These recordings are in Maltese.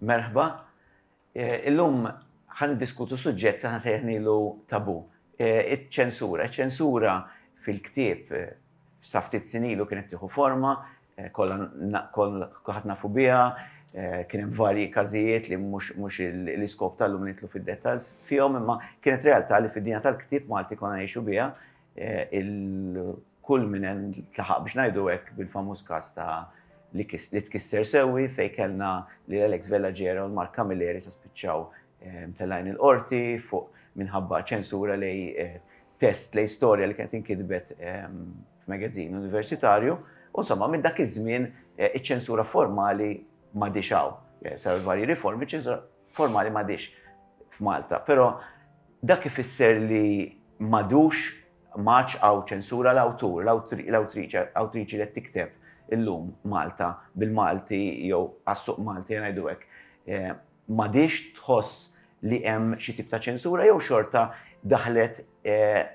Merħba, illum ħan diskutu suġġett saħna sejħnilu tabu, iċ-ċensura. Iċ-ċensura fil-ktieb saftit sinilu kienet tiħu forma, kolħat nafu bija, kienem varji kazijiet li mux l-iskop tal-lum nitlu fil-detal fihom, imma kienet realtà li fid-dinja tal-ktieb Malti konna jiexu bija, Il-kulmine ntlaħaq biex ngħidu hekk bil-famuż każ ta' li tkisser sewwi fejn kellna lil Alex Vella Gera u l-Mark Camilleri sa spiċċaw mtellgħin il-Qorti fuq minħabba ċensura lejn test lejn storja li kienet inkitbet f'magazin universitarju u insomma minn dak iż-żmien iċ-ċensura formali m'għadhiex hawn. Saru l-varji riformi, iċ-ċensura. formali m'għadhiex f'Malta, però dak ifisser li m'għadux m'għadx hawn ċensura l-awtur, l-awtriċi, awtriċi li qed tikteb illum Malta bil-Malti jew għas-suq Malti ngħidu hekk, m'għadhiex tħoss li hemm xi tip ta' ċensura jew xorta daħlet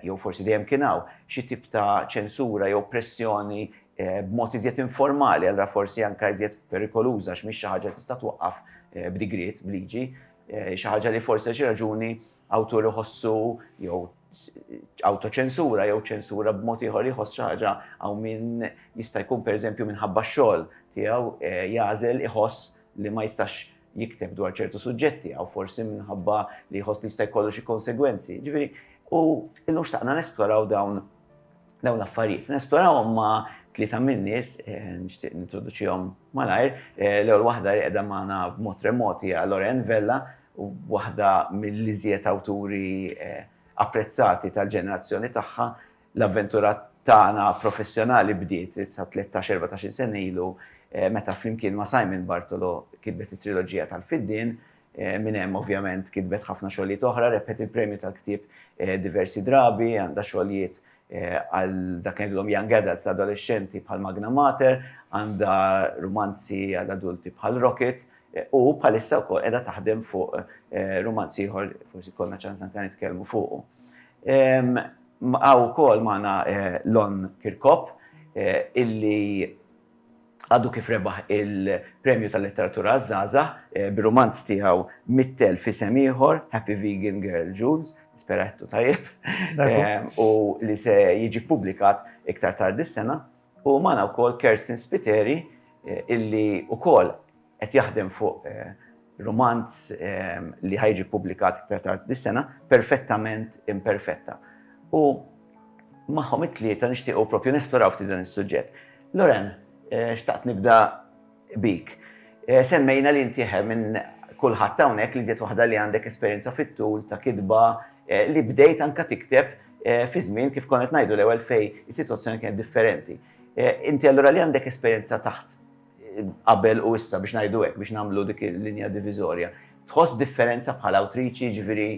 jew forsi dejjem kien hawn, xi tip ta' ċensura jew pressjoni b'mod iżjed informali, allura forsi anke iżjed perikoluża għax mhix xi ħaġa li tista' twaqqaf b'digriet, b'liġi, xi ħaġa li forsi għal xi raġuni awtur iħossu jew awtoċensura jew ċensura b'mod ieħor jħoss xi ħaġa hawn min jista' jkun pereżempju minħabba x-xogħol tiegħu jagħżel iħoss li ma jistax jikteb dwar ċertu suġġetti, għaw forsi minħabba li jħoss li jista' jkollu xi konsegwenzi. Ġifieri, u illum xtaqna nesploraw dawn dawn l-affarijiet. Nesplorawhom ma' tlieta min-nies, eh, nixtieq nintroduċihom malajr. Eh, l-ewwel waħda li qiegħda magħna b'mod remoti hija Loren Vella, waħda mill-iżjed awturi eh, apprezzati tal-ġenerazzjoni tagħha, L-avventura tagħna professjonali bdiet issa tlettax, erbatax-il sena ilu meta flimkien ma' Simon Bartolo kitbet it-triloġija tal-Fiddien. Minn hemm ovvjament kitbet ħafna xogħlijiet oħra, rebħet il-Premju tal-Ktieb diversi drabi, għandha xogħlijiet għal dak li ngħidulhom young adults, adolexxenti, bħal Magna Mater, għandha rumanzi għal adulti bħal Rocket u bħalissa wkoll qiegħda taħdem fuq rumanz ieħor, forsi jkollna ċans anke nitkellmu fuqu. Hawn ukoll magħna Lon Kirkop illi għadu kif rebaħ il-Premju tal-Letteratura għaż-Żgħażagħ bir-rumanz tiegħu mittel f'isem ieħor, Happy Vegan Girl Jules, nispera għedtu tajjeb, u li se jiġi ppubblikat iktar tard dis-sena. U magħna wkoll Kerstin Spiteri illi wkoll Qed jaħdem fuq rumanz li ħa jiġi ppubblikat iktar tard dis-sena, Perfettament Imperfetta. U magħhom it-tlieta nixtiequ proprju nesploraw ftit dan is-suġġett. Loren, xtaqt nibda bik. Semmejna li inti eħe minn kulħadd hawnhekk l-iżjed waħda li għandek esperjenza fit-tul ta' kitba li bdejt anke tikteb fi żmien kif konna qed ngħidu l-ewwel fejn is-sitwazzjoni kienet differenti. Inti allura li għandek esperjenza taħt qabel u issa biex ngħidu hekk biex nagħmlu dik il-linja diviżorja. Tħoss differenza bħala awtriċi, ġifieri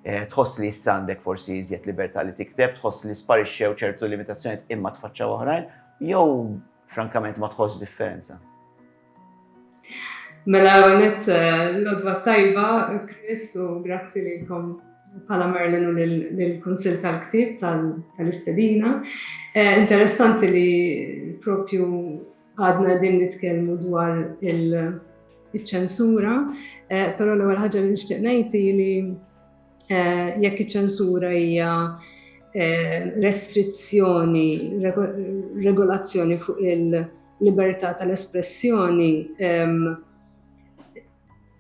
eh, tħoss li issa għandek forsi iżjed libertà li tikteb, tħoss li sparixxew ċertu limitazzjonijiet imma tfaċċaw oħrajn, jew frankament ma tħoss differenza? Mela għonet eh, l-odwa tajba, Chris, u grazzi li kom pala Merlin u l-Konsil tal-Ktib tal-Istedina. Eh, interessanti li propju Għadna qegħdin nitkellmu dwar il-ċensura, eh, però l-ewwel ħaġa li nixtieq ngħid li eh, jekk iċ-ċensura hija eh, restrizzjoni, regolazzjoni fuq il- libertà tal-espressjoni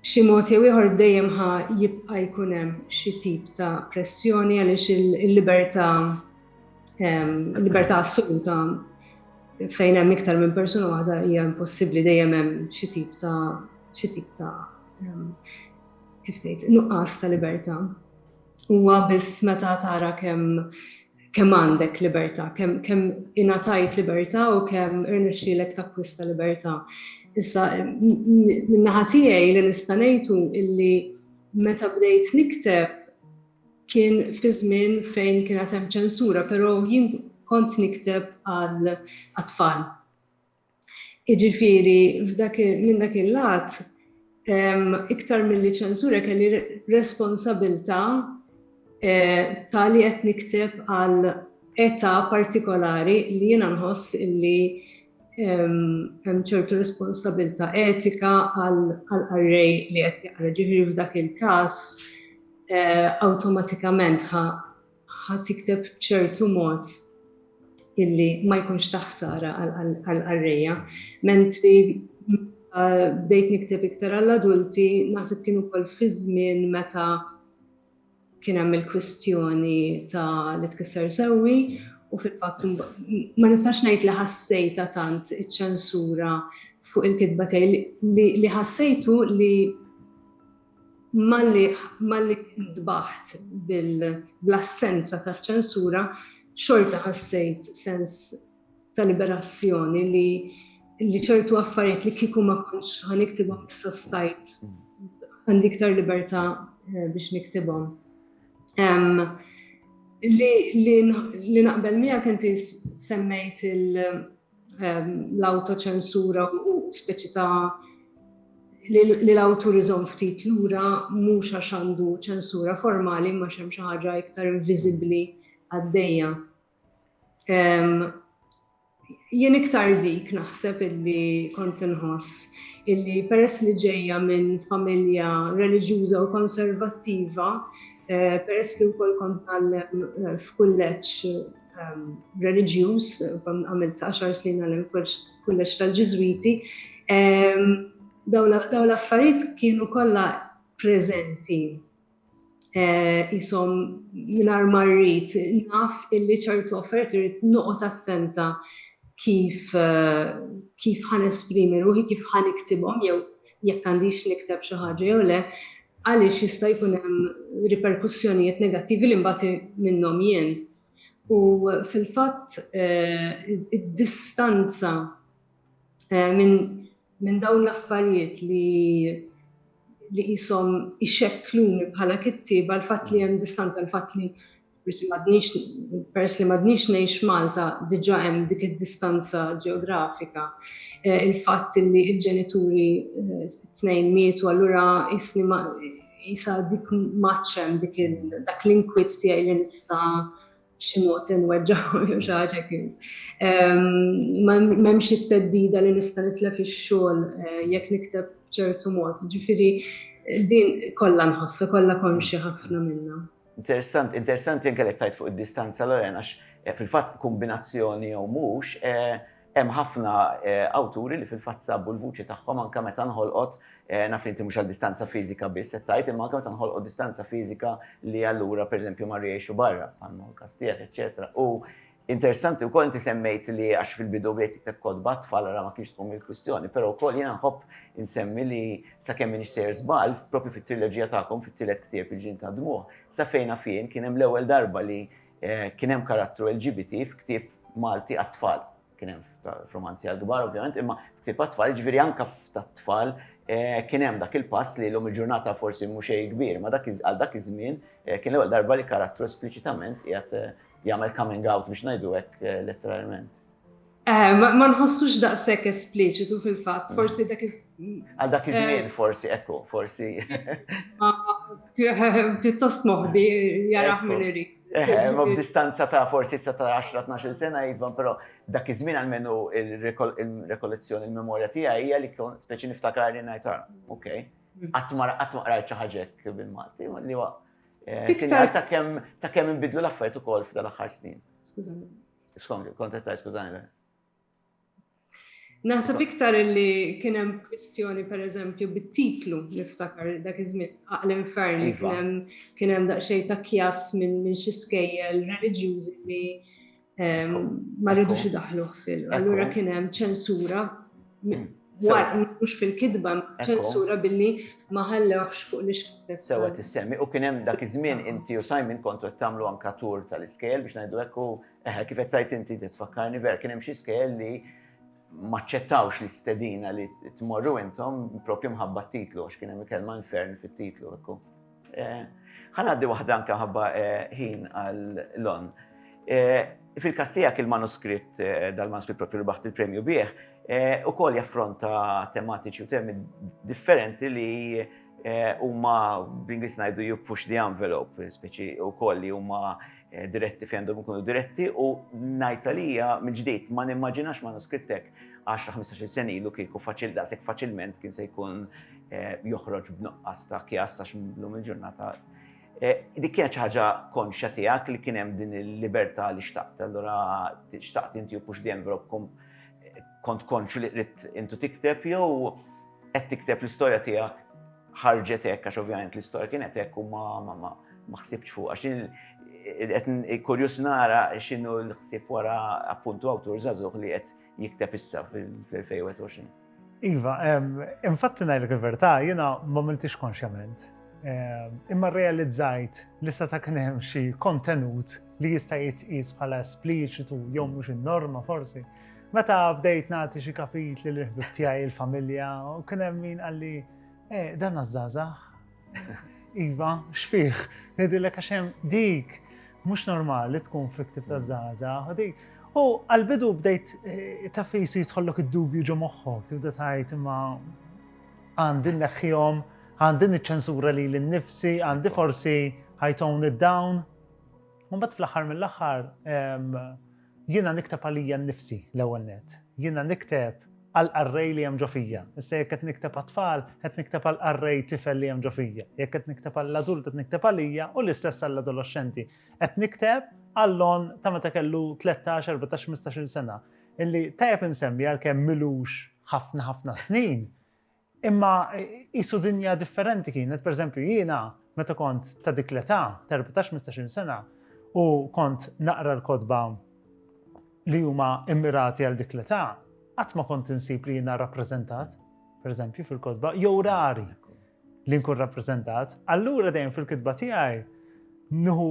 b'xi mod jew ieħor dejjem ħa jibqa' jkun hemm xi tip ta' pressjoni għaliex il-libertà il-libertà assoluta fejn hemm iktar minn persuna waħda hija impossibbli dejjem hemm xi tip ta' xi tip ta' ehm, kif tgħid, nuqqas ta' libertà. Huwa biss meta tara kemm kemm għandek libertà, kemm kemm ingħatajt libertà u kemm irnexxielek takkwista libertà. Issa min-naħa tiegħi li nista' ngħidu illi meta bdejt nikteb kien fi żmien fejn kienet hemm ċensura, però jien kont nikteb għal tfal. Jiġifieri f'dak minn dak il-lat iktar milli ċensura kelli responsabilità ta' li qed nikteb għal età partikolari li jiena nħoss illi hemm ċertu responsabilità etika għal qarrej li qed jaqra. Ġifieri f'dak il-każ awtomatikament ħa tikteb b'ċertu mod illi ma jkunx ta' ħsara għall-qarrejja. Mentri bdejt nikteb iktar għall-adulti, naħseb kien ukoll fi żmien meta kien hemm il-kwistjoni ta' li tkisser sewwi u fil-fatt ma nistax ngħid li ħassejta tant iċ-ċensura fuq il-kitba tiegħi li ħassejtu li malli malli ntbaħt bl-assenza ta' ċensura xorta ħassejt sens ta' liberazzjoni li li ċertu affarijiet li kieku ma kontx ħan iktibhom issa stajt għandi iktar libertà eh, biex niktibhom. Li naqbel miegħek inti semmejt il- l-awtoċensura u speċi ta' li l-awtur iżomm ftit lura mhux għax għandu ċensura formali imma x'hemm xi ħaġa iktar inviżibbli għaddejja. Jien iktar dik naħseb illi kont inħoss illi peress li ġejja minn familja reliġjuża u konservattiva, eh, peress li wkoll kont għal eh, f'kulleġġ reliġjuż, għamilt 10 snin għal kulleġġ tal-Ġiżwiti. Daw l-affarijiet kienu kollha preżenti jisom eh, minar marrit, naf illi ċertu offert irrit noqot attenta kif eh, kif ħan esprimi ruħi, kif ħan iktibom, jew jekk għandix nikteb xi ħaġa jew le, għaliex jista' jkun hemm riperkussjonijiet negattivi li mbagħad minnhom jien. U fil-fatt id-distanza minn min dawn l-affarijiet li li qishom ixekkluni bħala kittieba l-fatt li hemm distanza l-fatt li forsi m'għadniex, peress li m'għadniex ngħix Malta, diġà hemm dik id-distanza ġeografika. Il-fatt li l-ġenituri t-tnejn mietu allura qisni ma qisha dik m'għadx hemm dik dak l-inkwiet tiegħi li nista' b'xi mod inweġġaħ jew xi ħaġa kien. M'hemmx it-theddida li nista' nitlef ix-xogħol jekk nikteb b'ċertu mod. Ġifieri din kollha nħossha, kollha konxja ħafna minnha. Interessant, interessanti anke li tajt fuq id-distanza Loren għax eh, fil-fatt kombinazzjoni jew mhux eh, hemm ħafna eh, awturi li fil-fatt sabu l-vuċi tagħhom anke meta nħolqot naf li inti mhux għal distanza fiżika biss qed tgħid imma anke meta nħolqot distanza fiżika li allura pereżempju ma rjexu barra bħal kastijiet eċetera. U Interessanti wkoll inti semmejt li għax fil-bidu bdejt tikteb kotba għat-tfal ara ma kienx tkun il-kwistjoni, però wkoll jiena nħobb insemmi li sakemm m'iniex sejjer żball, proprju fit-triloġija tagħkom, fit-tielet ktieb Il-Ġnien tad-Dmugħ, sa fejn naf jien kien hemm l-ewwel darba li kien hemm karattru LGBT f'ktieb Malti għat-tfal. Kien hemm f'rumanzi għall-kbar ovvjament, imma f'ktieb għat-tfal, jiġifieri anke f'tat-tfal kien hemm dak il-pass li llum il-ġurnata forsi mhu xejn kbir, imma għal dak iż-żmien kien l-ewwel darba li karattru espliċitament qiegħed jagħmel coming out biex ngħidu hekk eh, letteralment. Eh, ma nħossux daqshekk espliċitu fil-fatt, mm. forsi dak Għal dak iż-żmien eh, forsi ekku, forsi. Pjuttost moħbi jaraħ minn irid. Eh, ma b'distanza ta' forsi sa ta' 10-12 sena jivan, pero dak iż-żmien għalmenu il-rekollezzjoni, il-memorja tiegħi hija li kon speċi niftakar li ngħid ah, ok, mm. qatt ma rajt xi ħaġek bil-Malti, li Eh, sinjal ta' kemm ta' kemm inbidlu l-affarijiet ukoll f'dan aħħar snin. Skużani. Skont kont qed skużani. Naħseb iktar li kien hemm kwistjoni pereżempju bit-titlu niftakar dak iż-żmien aql infern li iva. kien hemm kien hemm daqsxejn ta' kjas minn xi skejjel reliġjużi li ma rridux idaħħluh fil. Allura kien hemm ċensura mhux fil-kitba, ċensura billi ma ħallewx fuq l ixkil Sewa tissemmi u kien hemm dak iż-żmien inti u Simon kontu qed tagħmlu anka tur tal-iskejl biex ngħidu hekk u eh, kif qed tajt inti tfakkarni ver kien hemm xi skejl li maċċettawx li stedina li tmorru intom propju mħabba t-titlu għax kien hemm kelma infern fit-titlu hekk. Ħa ngħaddi waħda anke ħabba ħin għal lon. Fil-każ tiegħek il-manuskritt dal-manuskritt propju li baħt il-premju bih ukoll jaffronta tematiċi u temi differenti li huma bl-Ingliż ngħidu you push the envelope, speċi ukoll li huma Eh, diretti fejn għandhom ikunu diretti u najta li hija mill-ġdid ma nimmaġinax ma nuskrittek 10-15 sen ilu kieku faċil daqshekk faċilment kien se jkun joħroġ b'nuqqas ta' kjas għax llum il-ġurnata dik kienet xi ħaġa konxja tiegħek li kien hemm din il-libertà li xtaqt. Allura xtaqt inti u pux dejjem robkom kont konxju li qrid intu tikteb jew qed tikteb l-istorja tiegħek ħarġet hekk għax ovvjament l-istorja kienet hekk u ma ma ma ma ħsibx fuq għax qed kurjus nara x'inhu l-ħsieb wara appuntu awtur żagħżugħ li qed jikteb issa fil-2021. Iva, infatti ngħidlek il-verità, jiena ma miltix konxjament. Imma realizzajt li sa ta' kien hemm xi kontenut li jista' jitqies bħala espliċitu jew mhux in-norma forsi. Meta bdejt nagħti xi kapitli li ħbib tiegħi il-familja u kien hemm min qalli eh, dan għażażaħ, Iva, x'fih, ngħidilek għax hemm dik mhux normali tkun fiktiv ta' zaza, U għal-bidu bdejt eh, ta' fejsu jitħollok id-dubju ġo moħħok, tibda tajt imma għandin neħħihom, għandin iċ-ċensura li l-nifsi, għandi forsi ħajton id-dawn. Mbagħad fl-aħħar mill-aħħar Jiena nikteb għalija nnifsi, l-ewwel nett. Jiena nikteb għall-qarrej li hemm ġo fija. Issa jekk qed nikteb għat-tfal, qed nikteb għall-qarrej tifel li hemm ġo fija. Jekk qed nikteb għall-adult qed nikteb għalija u l-istess għall-adoloxxenti. Qed nikteb għall-Lon ta' meta kellu tlettax, erbatax, ħmistax-il sena, illi tajjeb insemmi għalkemm m'ilux ħafna ħafna snin, Imma qisu dinja differenti kienet, pereżempju jiena meta kont ta' dik l-età, ta' erbatax tmistax-il sena, u kont naqra l-kotba li huma mmirati għal dik l-età, qatt ma kont insib li jiena rappreżentat, pereżempju, fil-kotba, jew rari li nkun rappreżentat. Allura dejjem fil-kitba tiegħi nieħu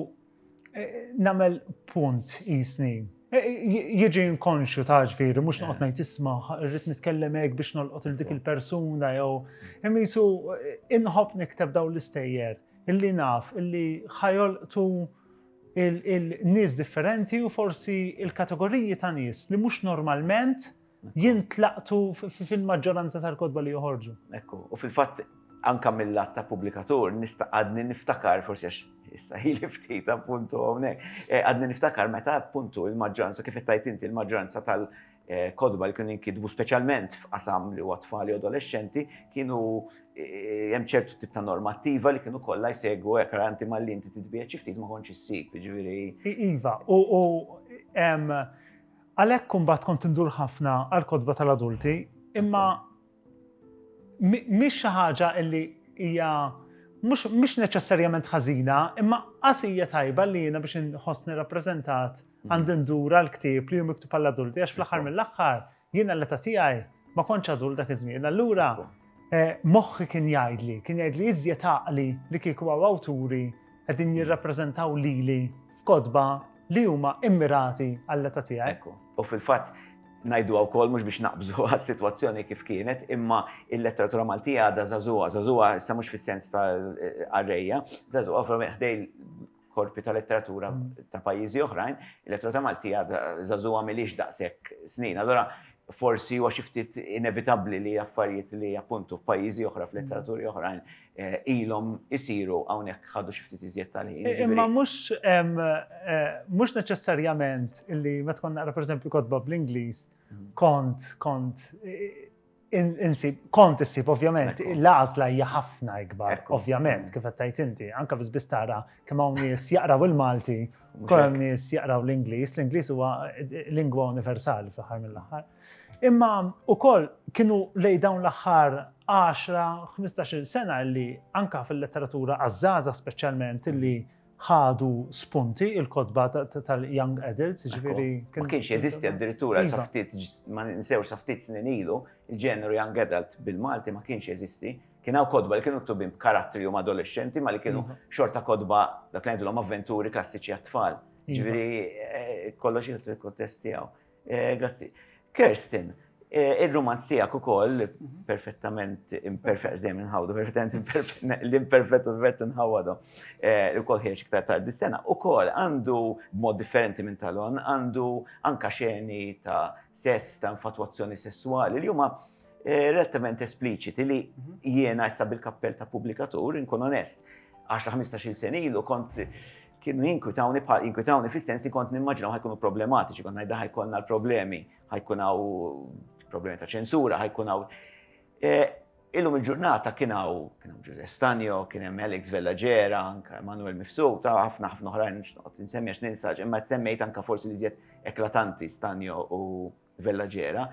Nagħmel punt qisni. Jiġi inkonxju ta' ġifieri mhux noqgħod ngħid isma' rrid nitkellem hekk biex nolqot il dik il-persuna jew imisu inħobb nikteb dawn l-istejjer illi naf illi ħajolqtu il-nies differenti u forsi il-kategoriji ta' nies li mhux normalment jintlaqtu fil-maġġoranza tal-kotba li joħorġu. Ekku, u fil-fatt anka mill-lat ta' pubblikatur nista' għadni niftakar forsi għax issa ħili ftit appuntu hawnhekk. Eh, għadni niftakar meta appuntu il-maġġoranza kif qed tajt inti il-maġġoranza tal- Eh, kodba li kienu jinkidbu speċjalment f'qasam li huwa tfal u adolescenti kienu eh, hemm ċertu tip ta' normattiva li kienu kollha jsegwu hekk anti malli inti titbieħ xi ftit ma kontx issib, jiġifieri. Iva, u hemm Għalhekk imbagħad kont indur ħafna għall-kotba tal-adulti, imma mhix xi ħaġa li hija mhux neċessarjament ħażina, imma qas hija tajba li jiena biex inħossni rappreżentat għandi ndur għall-ktieb li hu miktub għall-adulti għax fl-aħħar mill-aħħar jiena l-età tiegħi ma kontx adult dak iż-żmien. Allura moħħi kien jgħidli, kien jgħidli iżjed għaqli li kieku hawn awturi qegħdin jirrappreżentaw lili f'kotba li huma immirati għall-età tiegħi. Ekku. U fil-fatt najdu għaw kol mux biex naqbżu għas situazzjoni kif kienet, imma il-letteratura Maltija għada zazuwa, zazuwa sa mux fil-sens ta' arreja, zazuwa fra meħdej korpi ta' letteratura mm. ta' pajizi oħrajn, il-letteratura Maltija għada zazuwa milix daqsek snin. Allora, forsi huwa xi ftit inevitabbli li affarijiet li appuntu f'pajjiżi oħra, f'letteraturi oħrajn, ilhom isiru hawnhekk ħadu xi ftit iżjed tal-ħin. Imma mhux mhux neċessarjament illi meta kont naqra pereżempju kotba bl-Ingliż mm. kont kont insib kont issib ovvjament l-għażla hija ħafna ikbar ovvjament mm. kif qed tgħid inti anke biss biss tara kemm hawn nies jaqraw il-Malti kemm nies jaqraw l-Ingliż, l-Ingliż huwa lingwa universali fl-aħħar mill-aħħar. Imma ukoll kienu lejn dawn l-aħħar għaxra, ħmistax-il sena li anke fil-letteratura għaż-żgħażagħ speċjalment li ħadu spunti il-kotba tal-young adults, jiġifieri. Ma kienx jeżisti addirittura sa iva. ftit ma ninsewx sa ftit snin ilu, il-ġeneru young adult bil-Malti ma kienx jeżisti. Kien hawn kotba li kienu ktubin b'karattri huma adolescenti ma li kienu iva. xorta kotba dak li ngħidulhom avventuri klassiċi għat-tfal. Iva. Ġifieri eh, kollox jieħdu l-kontest tiegħu. Grazzi. Kirsten, il-romanz tijak u koll, perfettament imperfett, dem nħawdu, perfettament imperfett, l-imperfett u l-vett nħawadu, u koll ħiex iktar tardi sena, u koll għandu mod differenti minn talon, għandu anka xeni ta' sess, ta' infatuazzjoni sessuali, li huma relativament espliċiti li jiena issa bil-kappell ta' publikatur, inkun onest, 10-15 senilu kont kienu jinkwitawni bħal jinkwitawni fis-sens li kont nimmaġinaw ħajkunu problematiċi, kont ngħidha ħajkonna l-problemi, ħajkun hawn problemi ta' ċensura, ħajkun hawn. E, illum il-ġurnata kien hawn kien hawn Ġuże Stanjo, kien hemm Alex Vellagera, anke Manuel Mifsu, ta' ħafna ħafna oħrajn nsemmi għax ninsaġ, imma tsemmejt anke forsi li żjed eklatanti Stanjo u Vellagera,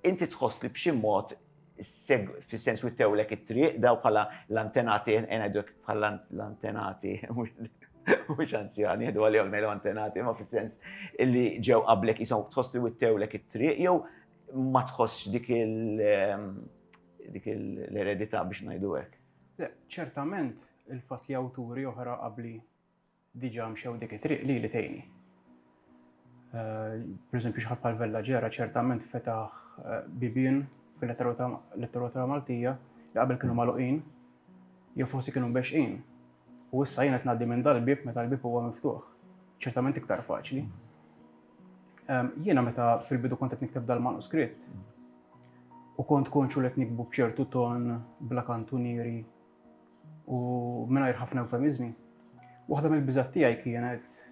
inti tħoss li b'xi mod fis-sens wittewlek it-triq daw bħala l-antenati, ngħidlek bħala l-antenati, mhux anzjani, jgħidu għalihom mela antenati, ma fis-sens li ġew qablek jisom tħoss li wittewlek it-triq jew ma tħossx dik il- ehm, dik l-eredità biex ngħidu hekk. Ċertament il-fatt li awturi oħra qabli diġa mxew dik it-triq lili tgħinni. Per eżempju xi ħadd bħal Vella Ġera ċertament fetaħ bibien fil-letteratura Maltija li qabel kienu magħluqin jew forsi kienu mbexxin. U issa jien qed ngħaddi minn dal-bieb meta l-bieb huwa miftuħ. Ċertament iktar faċli. Jiena meta fil-bidu kont qed nikteb dal-manuskritt u kont konxu li qed nikbu b'ċertu ton bla kantunieri U mingħajr ħafna eufemiżmi, waħda mill-biżgħat tiegħi kienet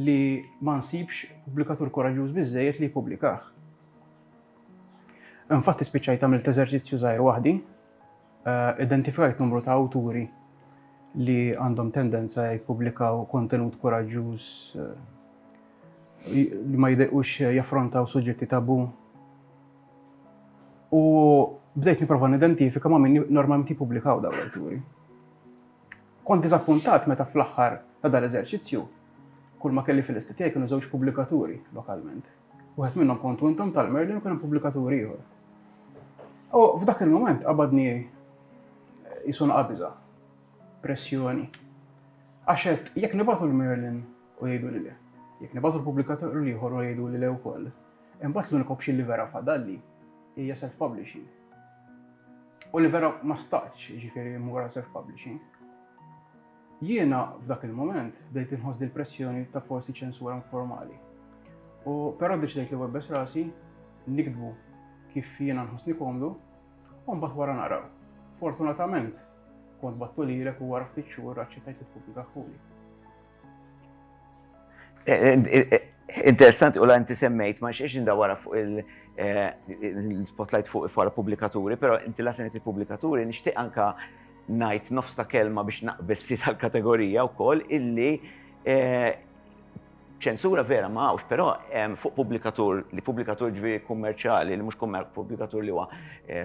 li ma nsibx pubblikatur koraġġuż biżejjed li jippubblikah. Infatti spiċċajt għamilt eżerċizzju żgħir waħdi, eh, identifikajt numru ta' awturi li għandhom tendenza jippubblikaw kontenut koraġġuż eh, li ma jidejqux jaffrontaw suġġetti tabu U bdejt niprofa nidentifika ma' min normalment jippubblikaw dawn l-awturi. Kont diżappuntat meta fl-aħħar ta' dan l-eżerċizzju kull ma kelli fil-lista tiegħi kienu żewġ pubblikaturi lokalment. Wieħed minnhom kontu intom tal-Merlin u kien hemm pubblikatur ieħor. U f'dak il-mument qabadni jisun qabiża, pressjoni. Għax qed jekk nibgħatu l-Merlin u jgħidu li le, jekk nibgħatu l-pubblikatur l-ieħor u jgħidu li le wkoll, Imbagħad l-unika option li vera fadalli hija self-publishing. U li vera ma staqtx, jiġifieri mmur għal self-publishing. Jiena f'dak il-mument bdejt inħoss dil pressjoni ta' forsi ċensura informali. U però deċidejt li webbes rasi nikdbu kif jiena nħossni komdu u mbagħad wara naraw. Fortunatament kont battu lilek u wara ftit xhur aċċettajt li tpublikaħuli. Interessanti u la inti semmejt, ma xiex indawara fuq il-spotlight fuq il-fara publikaturi, pero inti la semmejt il-publikaturi, nishtiq anka najt nofs ta' kelma biex naqbes ftit għal-kategorija u koll illi ċensura vera ma għawx, pero fuq publikatur, li publikatur ġviri kummerċali, li mux publikatur li huwa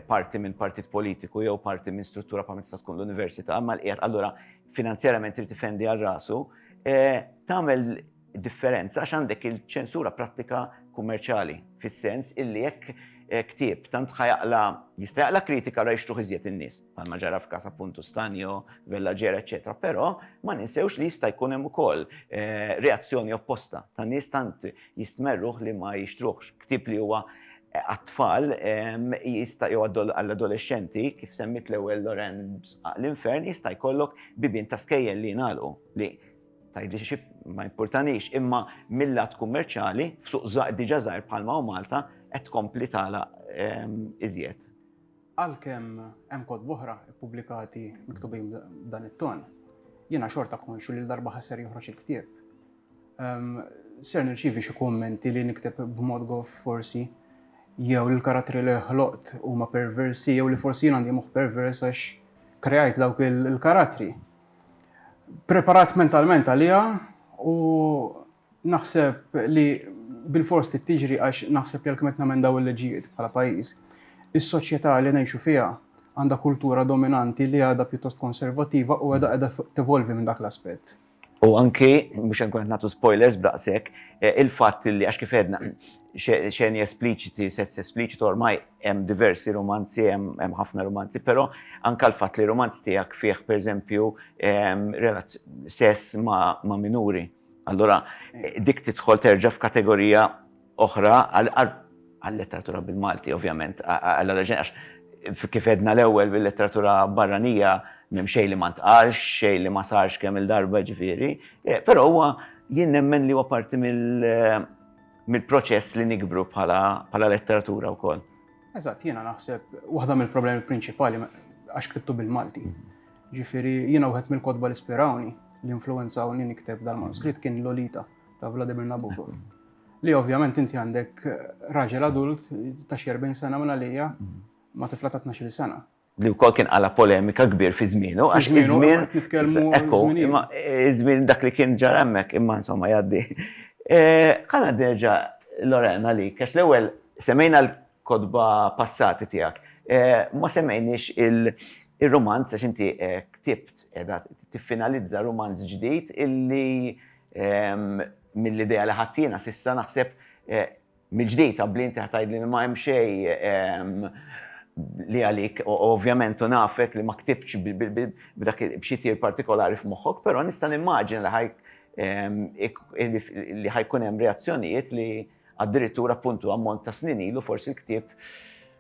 parti minn partit politiku jew parti minn struttura pa' minn tista' tkun l-universita, ma l-qiegħed allura finanzjarament irid ifendi għal rasu, eh, tagħmel differenza għax għandek il-ċensura prattika kummerċali fis-sens illi jekk eh, ktieb tant ħajaqla jista' jaqla kritika ra jixtruħ iżjed in-nies, bħalma ġara f'każ appuntu Stanjo, Vellaġera, eċetera, però ma ninsewx li jista' jkun hemm ukoll eh, reazzjoni opposta ta' nies tant jistmerruh li ma jixtruħx ktieb li huwa għat-tfal jista' jew għall-adolexxenti, kif semmiet l-ewwel Lorraine b'sqaq l-infern, jista' jkollok bibien ta' skejjel li jingħalqu, li tgħidli xi ma jimpurtanix, imma mil-lat kummerċjali, f'suq diġà żgħir bħalma hu Malta, qed tkompli tagħlaq iżjed. Għalkemm hemm kotba oħra ppubblikati miktubin b'dan it-ton, jiena xorta konxju li l-darba ħasser joħroġ il-ktieb, Ser nirċievi xi kummenti li nikteb b'mod goff forsi, jew li l-karattri li ħloqt huma perversi, jew li forsi jien għandi moħħ pervers għax kreajt dawk il-karattri. Preparat mentalment għaliha u naħseb li bil-fors trid tiġri għax naħseb li għalkemm qed namendaw il-leġijiet bħala pajjiż, is-soċjetà li ngħixu fiha għandha kultura dominanti li għadha pjuttost konservattiva u għadha qiegħda tevolvi minn dak l-aspett. U anki, mhux se nkun qed nagħtu spoilers b'daqshekk, il-fatt li għax kif għedna, xeni espliċiti, sess espliċitu ormai hemm diversi rumanzi, hemm ħafna rumanzi, però anke l-fatt li rumanz tiegħek fih pereżempju sess ma' minuri, allura dik tidħol terġa' f'kategorija, oħra għal-letteratura bil-Malti, ovvjament, għall-oriġini, għax kif edna l-ewwel bil-letteratura barranija m'hemm xejn li ma ntqalx, xejn li ma sarx kemm il-darba ġifieri, eh, però huwa jien nemmen li huwa parti mill-proċess li nikbru bħala letteratura wkoll. Eżatt, jiena naħseb waħda mill-problemi prinċipali għax ktibtu bil-Malti. Ġifieri jiena wieħed mill-kotba li spirawni l-influenza u nikteb dal-manuskritt kien Lolita ta' Vladimir Nabokov. Li ovvjament inti għandek raġel adult ta' xi 40 sena minn għalija mm. ma' tifla ta' 12 sena. Li wkoll kien għala polemika kbir fi żmienu, għax fi żmien ekku, imma eh, żmien dak li kien ġara hemmhekk imma insomma jgħaddi. Eh, ħana derġa Lorena li, għax l-ewwel semmejna l-kodba passati tiegħek, eh, ma semmejniex il- il-romanz, għax inti ktibt, edha tiffinalizza romanz ġdid illi Mill-idea li ħadt jiena s'issa naħseb mill-ġdid, abbli inti ħa tgħidli li ma hemm xejn li għalik, ovvjament u nafek li ma ktibtx b'xi tir partikolari f'moħħok, però nista' nimmaġina li ħa jkun hemm reazzjonijiet li addirittura appuntu ammont ta' snin ilu forsi l-ktieb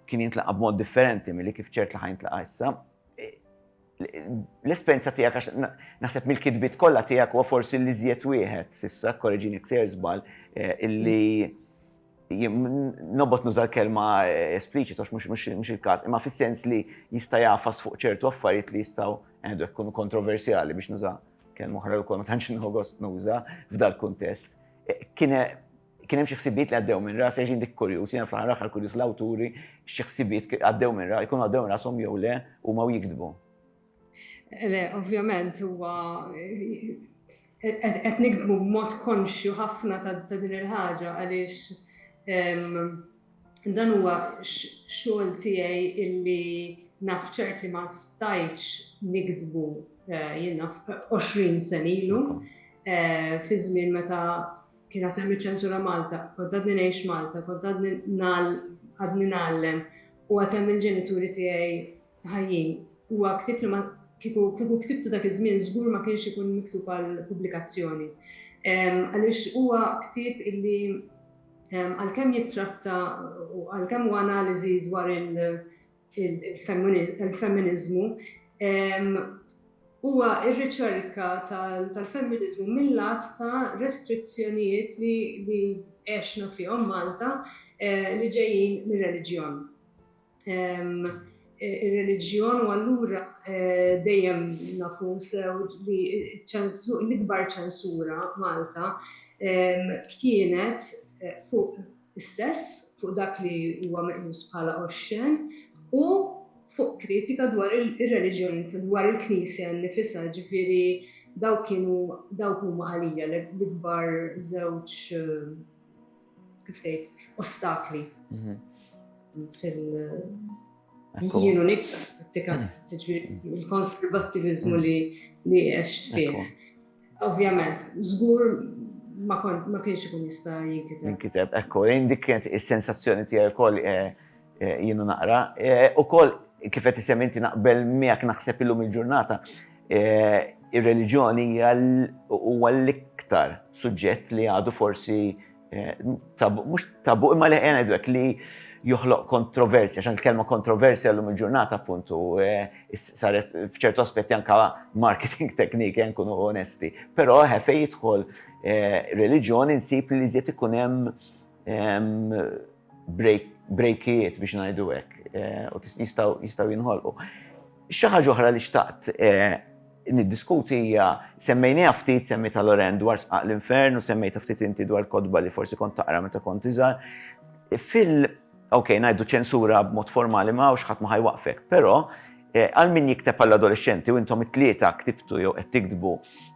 kien jintlaqa' b'mod differenti milli kif ċert li ħa jintlaqa' issa. l-esperjenza tiegħek għax naħseb mill-kitbiet kollha tiegħek huwa forsi li żjed wieħed s'issa korreġin jekk sejr żball eh, illi nobot nuża l-kelma eh, espliċit għax mhux il-każ, imma fis-sens li jista' jafas fuq ċertu affarijiet li jistgħu għandu eh, jkunu kontroversjali biex nuża kelma oħra wkoll ma tantx nħogost nuża f'dal kuntest. Kien Kien hemm xi ħsibiet li għaddew minn ras, għax dik kurjuż, jiena fl-aħħar aħħar kurjuż l-awturi xi ħsibiet għaddew minn ras, jkunu għaddew minn rashom jew le huma u jiktbu. Le, ovvjament huwa qed nikdbu b'mod konxju ħafna ta' din il-ħaġa għaliex dan huwa xogħol tiegħi illi naf ċert li ma stajtx nikdbu eh, jiena 20 sen ilu eh, fi żmien meta kien għad hemm iċ-ċensura Malta, kont għadni ngħix Malta, kont għadni għadni ngħallem u għad hemm il-ġenituri tiegħi ħajjin. Huwa ktib li ma kieku kieku ktibtu dak iż-żmien żgur ma kienx ikun miktub għal pubblikazzjoni. Għaliex huwa ktib illi għalkemm jittratta u għalkemm huwa analiżi dwar il- il-femminiżmu huwa r-riċerka tal-femminiżmu mil-lat ta' restrizzjonijiet li għexna fihom Malta li ġejjin mir-reliġjon. Ir-reliġjon u allura dejjem nafu sew li l-ikbar ċensura Malta kienet fuq is-sess, fuq dak li huwa meqjus bħala oxxen u fuq kritika dwar ir-reliġjon, dwar il-Knisja nnifisha, jiġifieri dawk kienu, dawk huma għalija l-ikbar żewġ, kif tgħid, ostakli fil- Jienu niktar, jiġifieri il-konservattiviżmu li għext fih. Ovvjament, żgur ma kienx ikun jista' jinkiteb. Jinkiteb, ekku, lejn dik kienet is-sensazzjoni tiegħi wkoll eh, eh, jienu naqra. Eh, ukoll kif qed isem inti naqbel miegħek naħseb illum il-ġurnata ir-reliġjoni hija huwa l-iktar suġġett li għadu forsi Eh, tabu, mux tabu, imma li għena id li joħloq kontroversja, xan kelma kontroversja l-lum il-ġurnata appuntu, eh, saret fċertu aspetti anka marketing teknik, eh, nkunu onesti. Pero ħefe jidħol religjon insib li zjet ikunem brejkijiet biex ngħidu hekk eh, u jistgħu jinħolqu. Xi ħaġa oħra li xtaqt eh, niddiskuti hija semmejniha ftit semmi ta' Loren dwar sqaq l-infern u semmejta ftit inti dwar kodba li forsi kont taqra meta kont iżgħar. Fil ok, ngħidu ċensura b'mod formali ma' ħadd ma ħajwaqfek, però eh, għal min jikteb għall-adolescenti u intom it-tlieta ktibtu jew qed tikdbu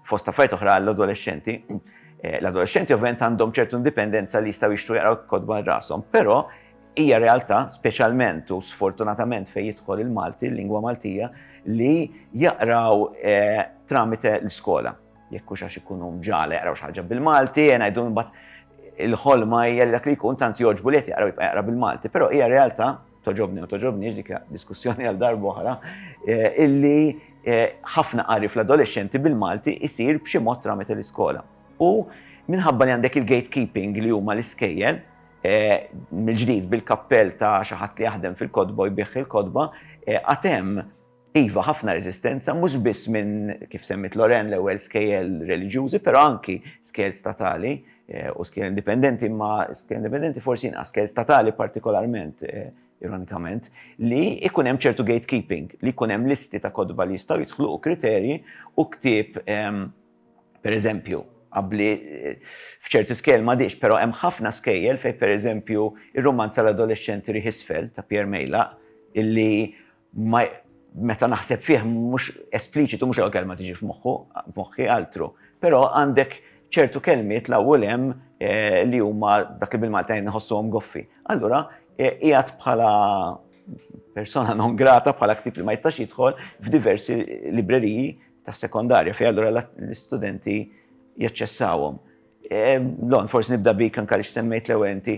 fost affarijiet oħra għall-adolescenti, L-adolexxenti ovvjament għandhom ċertu indipendenza li jistgħu jixtru jaqraw kotba għal rashom, però hija realtà speċjalment u sfortunatament fejn jidħol il-Malti, l-lingwa Maltija, li jaqraw tramite l-iskola. Jekk hux għax ikunu mġala jaqraw xi ħaġa bil-Malti, ngħidu mbagħad il-ħolma hija li dak li jkun tant jogħġbu li qed jaqra jibqa' jaqra bil-Malti, però hija realtà toġobni u toġobni dik diskussjoni għal darba oħra, eh, illi eh, ħafna qari fl-adolescenti bil-Malti isir b'xi mod tramet l-iskola. U minħabba li għandek il-gatekeeping li huma l-iskejjel, eh, mill-ġdid bil-kappell ta' xi ħadd li jaħdem fil-kodba u jbih il-kodba, għatem Iva, ħafna reżistenza, mhux biss minn, kif semmiet Loren, l-ewwel skejjel reliġjużi, però anki skejjel statali u skejjel indipendenti, imma skejjel indipendenti forsi inqas, skejjel statali partikolarment, ironikament, li jkun hemm ċertu gatekeeping, li jkun hemm listi ta' kotba li jistgħu jidħlu u kriterji u ktieb, pereżempju, qabbli f'ċerti skejjel m'għadhiex, però hemm ħafna skejjel fejn pereżempju r-rumanz għal adolexxenti Riħ Isfel ta' Pierre Meilaq, illi ma meta naħseb fih mhux espliċitu mhux l-ewwel kelma tiġi f'moħħu, f'moħħi altru. Però għandek ċertu kelmiet l-hawn u l-hemm li huma dak li bil-Malti ngħid nħossuhom goffi. Allura qiegħed bħala persona non grata bħala ktib li ma jistax jidħol f'diversi libreriji tas-sekondarja fejn allura l-istudenti jaċċessawhom. Lon, forsi nibda bik anke li semmejt l-ewwel inti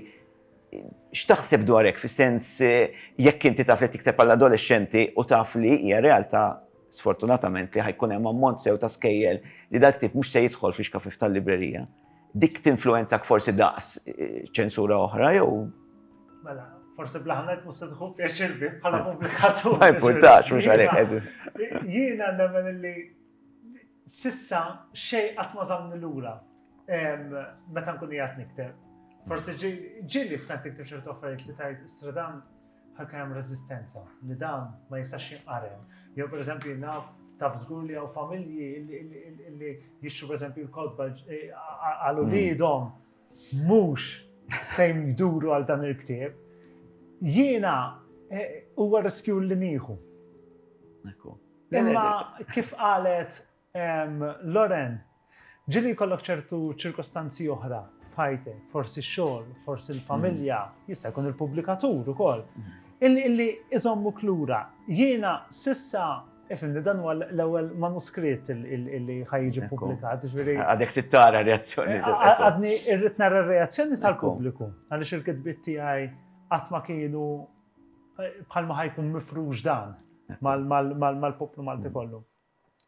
X'taħseb dwar hekk, fis-sens jekk inti taf li qed tikteb għall-adolexxenti u taf li hija realtà sfortunatament li ħa jkun hemm ammont sew ta' skejjel li dal-ktieb mhux se jidħol fl-ixkafif tal-librerija, dik tinfluwenzak forsi daqs ċensura oħra jew? Mela, forsi bl-aħna mhux se tieħu pjaċir bih bħala pubblikatur. Ma jimpurtax, mhux għalhekk qegħdin. Jiena nemmen li s'issa xejn qatt ma żammni lura. meta nkun jgħat nikteb. Forse ġilli tkun tikteb ċertu affarijiet li tajt stradan ħakka hemm rezistenza li dan ma jistax jinqarem. Jew per eżempju naf taf żgur li hawn familji li jixxu per eżempju l-kodba eh, għal uliedhom mhux se jduru għal dan il-ktieb. Jiena eh, huwa riskju li nieħu. Imma kif qalet Loren, ġieli jkollok ċertu ċirkostanzi oħra f'ħajtek, forsi x-xogħol, forsi l-familja, jista' jkun il-pubblikatur ukoll, illi iżommuk lura. Jiena s'issa Ifhimni, dan huwa l-ewwel manuskritt li ħajġi ppubblikat. Għadek tittara reazzjoni. Għadni irrid nara reazzjoni tal-pubbliku, għaliex il-kitbiet tiegħi qatt ma kienu bħalma ħajkun mifrux dan mal-poplu Malti kollu.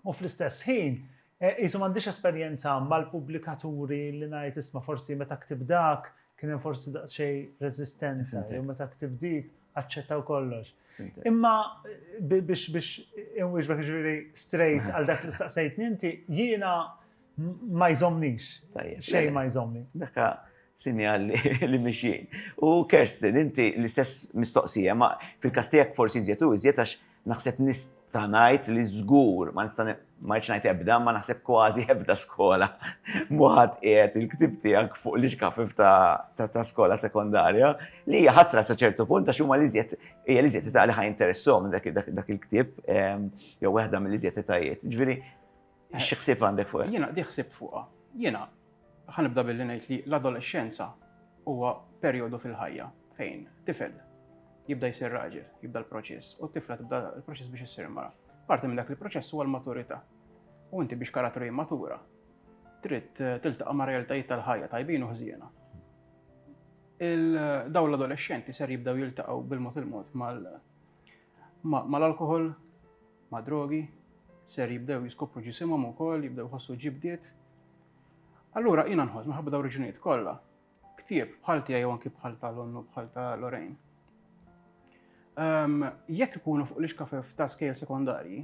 u fl-istess ħin qisu m'għandix esperjenza mal-pubblikaturi li ngħid isma' forsi meta ktibt dak kien hemm forsi daqsxejn reżistenza jew meta ktibt dik aċċettaw kollox. Imma biex biex inwieġbek ġifieri straight għal dak li staqsejtni inti jiena ma jżomnix. Xejn ma jżomni. Daka sinjal li mixjien. U Kerstin, inti l-istess mistoqsija, ma fil-kastijak forsi zjetu, zjetax Naħseb nista' ngħid li żgur, ma nista' ma rridx ngħid ebda, ma naħseb kważi ebda skola mhu ħadd qiegħed il-ktieb tiegħek fuq l-ixkafif ta' skola sekondarja li hija ħasra sa ċertu punt għax huma l-iżjed hija l-iżjed età li ħa jinteressahom dak il-ktieb jew waħda mill-iżjed etajiet. Ġifieri Xi ħsieb għandek fuqha? Jiena di ħsieb fuqha. Jiena ħanibda billi ngħid li l-adolescenza huwa perjodu fil-ħajja fejn tifel jibda jsir raġel, jibda l-proċess, u t-tifla tibda l-proċess biex issir mara. Parti minn dak il-proċess huwa l-maturità. U inti biex karattru jimmatura, trid eh, tiltaqa' ma' realtajiet tal-ħajja tajbin u ħżiena. Daw l-adolescenti ser jibdaw jiltaqgħu bil-mod il-mod Ma' l-alkoħol, ma' drogi, ser jibdew jiskopru ġisimhom ukoll, jibdew jħossu ġibdiet. Allura jiena nħoss minħabba daw reġunijiet kollha, ktieb bħal tiegħi jew anki bħal ta' l-onnu bħal ta' Lorraine. Ehm, jekk ikunu fuq l-ixkafef ta' skejl sekondarji,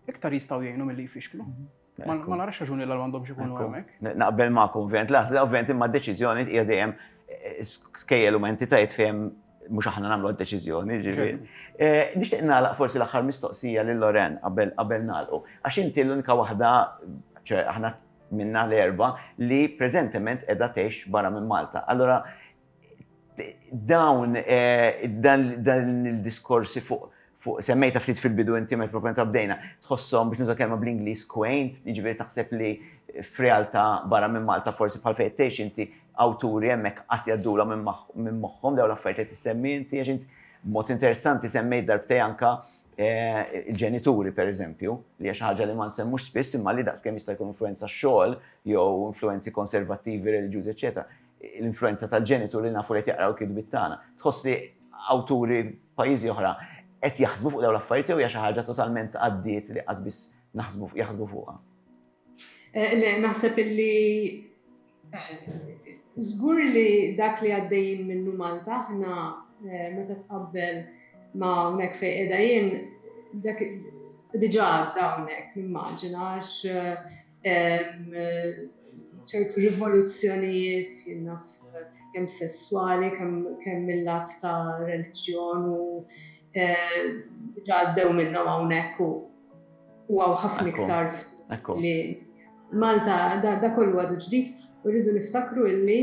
iktar jistgħu jgħinu milli jfixklu. Mhm. Ma narax raġuni l għandhomx ikunu hemmhekk. Naqbel magħkom, ovvjament, laħża, ovvjament, imma d-deċiżjoni hija dejjem eh, skejjel u entitajiet fejn mhux aħna nagħmlu d-deċiżjoni, ġifieri. Eh, nixtieq nagħlaq forsi l-aħħar mistoqsija lil Loren qabel qabel nagħlqu. Għax inti l-unika waħda, aħna minna l-erba li preżentement qiegħda tgħix barra minn Malta. Allora, Dawn, dan il-diskorsi fuq, semmejta ftit fil-bidu inti meta propjament bdejna, tħosshom biex nuża kelma bl-Ingliż quaint, jiġifieri taħseb li f'realtà barra minn Malta forsi bħal fejn qed tgħix inti, awturi hemmhekk qas jgħaddulhom minn moħħhom dawn l-affarijiet li qed issemmi inti għax int b'mod interessanti semmejt darbtej anke l-ġenituri pereżempju, li hija xi ħaġa li ma nsemmux spiss imma li daqskemm jista' jkun influwenza x-xogħol jew influwenzi konservattivi reliġjużi eċċetera. l-influwenza tal-ġenitur li nafu li qed jaqraw il-kitbiet tagħna. Tħoss li awturi pajjiżi oħra qed jaħsbu fuq dawn l-affarijiet jew hija xi ħaġa totalment għaddiet li qas biss naħsbu jaħsbu fuqha? Le, naħseb illi żgur li dak li għaddejjin minnu Malta aħna meta tqabbel ma' hawnhekk fejn qiegħda jien dak diġà għadda hawnhekk nimmaġina għax ċertu rivoluzzjonijiet jinnaf kemm sesswali, kemm mill-lat ta' reliġjon u ġaddew minnhom hawnhekk u għaw ħafna iktar li Malta da kollu għadu ġdid u rridu niftakru illi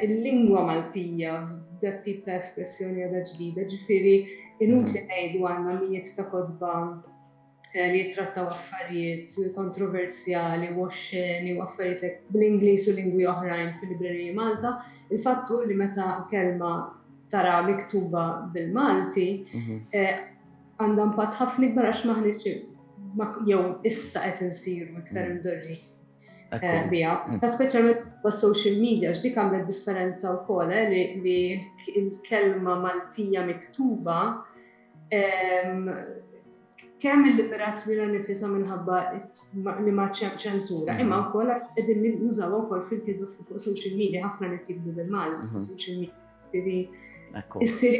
il-lingwa Maltija f'dat tip ta' espressjoni għadha ġdida, ġifieri inutli ngħidu għandna mijiet ta' kodba li jittrattaw affarijiet kontroversjali u oxxeni u affarijiet hekk bl-Ingliż u lingwi oħrajn fil-libreriji Malta. Il-fatt hu li meta kelma tara miktuba bil-Malti mhm. eh, għandha impatt ħafna ikbar għax maħniġ jew issa qed insiru iktar mm. imdorri eh, biha. Mm. Ta' speċjalment bas social media x'dik għamlet differenza wkoll eh, li l-kelma Maltija miktuba Kemm il-liberazzjoni nifisa minħabba li ma ċem ċensura, mhm. imma wkoll qegħdin nużaw wkoll fil-kitba fuq social media ħafna nies jibdu bil-Malti fuq mhm. social media. Issir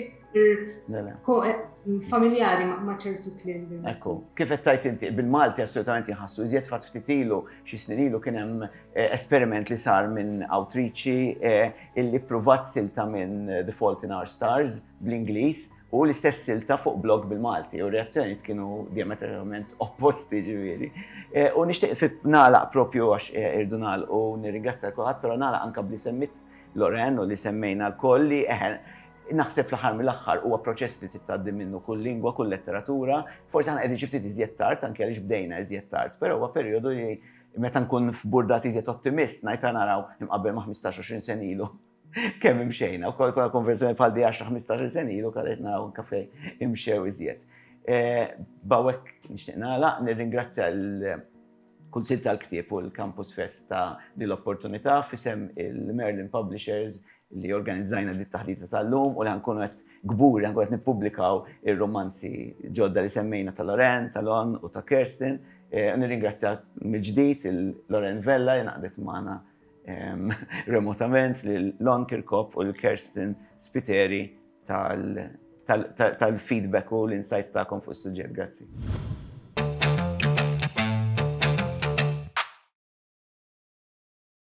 familjari ma ċertu klim. Ekku, kif qed tajt inti, bil-Malti assolutament jħassu, iżjed fatt ftit ilu, xi snin ilu kien hemm eh, esperiment li sar minn Outreachi eh, illi pruvat silta minn The Fault in Our Stars bl-Ingliż u l-istess silta fuq blog bil-Malti u reazzjonijiet kienu diametralment opposti ġifieri. Eh, u nixtieq fit nagħlaq propju għax eh, irdu nagħlaq u nirringrazzja kulħadd, però nagħlaq anke bli semmit Loren u li semmejna l-koll li eħen eh, naħseb fl-aħħar mill-aħħar huwa proċess li titgħaddi minnu kull lingwa, kull letteratura, forsi aħna qegħdin xi ftit iżjed tard, anke għaliex bdejna iżjed tard, però huwa perjodu li meta nkun f'burdati iżjed ottimist ngħid naraw imqabbel ma' 15-20 sen ilu. Kemm imxejna, u kol konverzjoni bħal di 10-15 sen ilu kallet naraw kafe imxew iżjed. Eh, bawek nixtieq nagħlaq, nirringrazzja l-Kunsil tal-Ktieb u l-Campus Fest ta' din l-opportunità fisem il-Merlin Publishers li organizzajna dit taħdita tal-lum u li ħankunu qed gbur li ħankunu qed nippubblikaw ir-romanzi ġodda li semmejna ta' Loren, ta' Lon u ta' Kirsten. Eh, nirringrazzja mill-ġdid il-Loren Vella li naqdet magħna remotament lil Lon Kirkop u l-Kerstin Spiteri tal-feedback u l-insights tagħkom fuq is-suġġett. Grazzi.